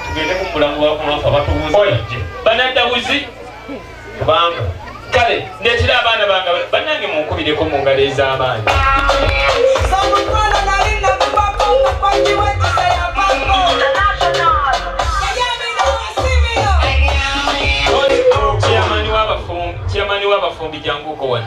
tugende ku mulambo wa kumafa batubuze banadda buzi kubanga kale ndetera abaana bange banange munkubireko mu ngalo ez'amaanyi chairman w'abafumbi jangu uko wano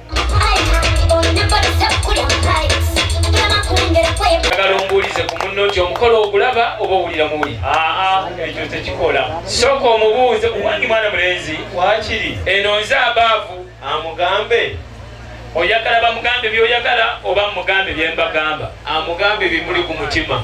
njagala ombuulize ku munno nti omukolo ogulaba oba owulira muwuli aa ekyo tekikola sooka omubuuze owange mwana mulenzi wakiri eno nze abaavu amugambe oyagala bamugambe byoyagala oba mugambe byembagamba amugambe bimuli ku mutima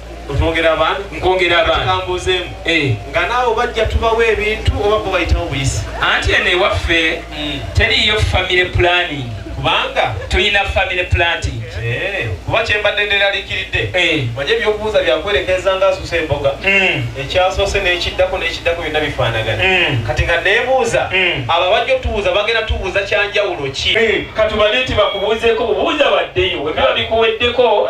Otwongera abantu, nkwongera abantu. Kambuuzeemu. Eh. Nga naawe bajja tubawo ebintu oba bo bayitawo buyisi. Anti eno ewaffe mm. teriiyo family planning. Kubanga tulina family planting. Eh, kuba kyembadde nderaliikiridde. Eh. Manye ebyokubuuza byakwerekeeza nga asusa emboga. Mm. Ekyasoose n'ekiddako n'ekiddako byonna bifaanagana. Mm. Kati nga neebuuza mm. abo abajja otubuuza bagenda tubuuza kyanjawulo ki? Eh, katubale nti bakubuuzeeko bubuuza baddeyo webiba bikuweddeko.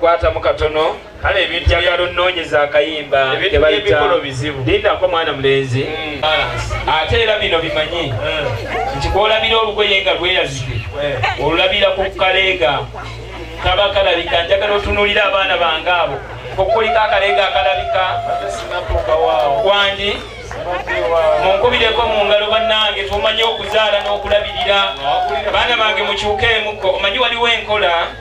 kwatamu katono kale ebintu njagala onnoonyeza akayimba kebayita lindako mwana mulenzi mm. ate era bino bimanyi mm. nti kwolabira olugoye nga lweyazike eh. olulabira ku kaleega kaba kalabika njagala otunuulira abaana bange abo okukulika akaleega akalabika kwandi munkubireko mu ngalo bannange tumanyi okuzaala n'okulabirira baana bange mukyukeemuko omanyi waliwo enkola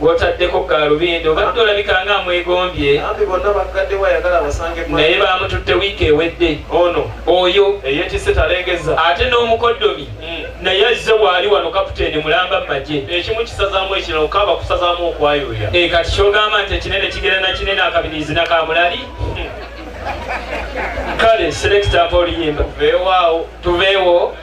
gwotaddeko gaalubindi obadde olabika nga amwegombye naye baamututte wiiki ewedde ono oyo eyetise talengeza ate n'omukoddomi hmm. naye azze waali wano kaputeeni mulamba mu magye ekimu kisazaamu ekirala okaaba kusazaamu okwayuya e eh, kati kyogamba nti ekinene kigera na kinene akabirizi nakamulali hmm. kale selekita mpa oluyimba tuveewo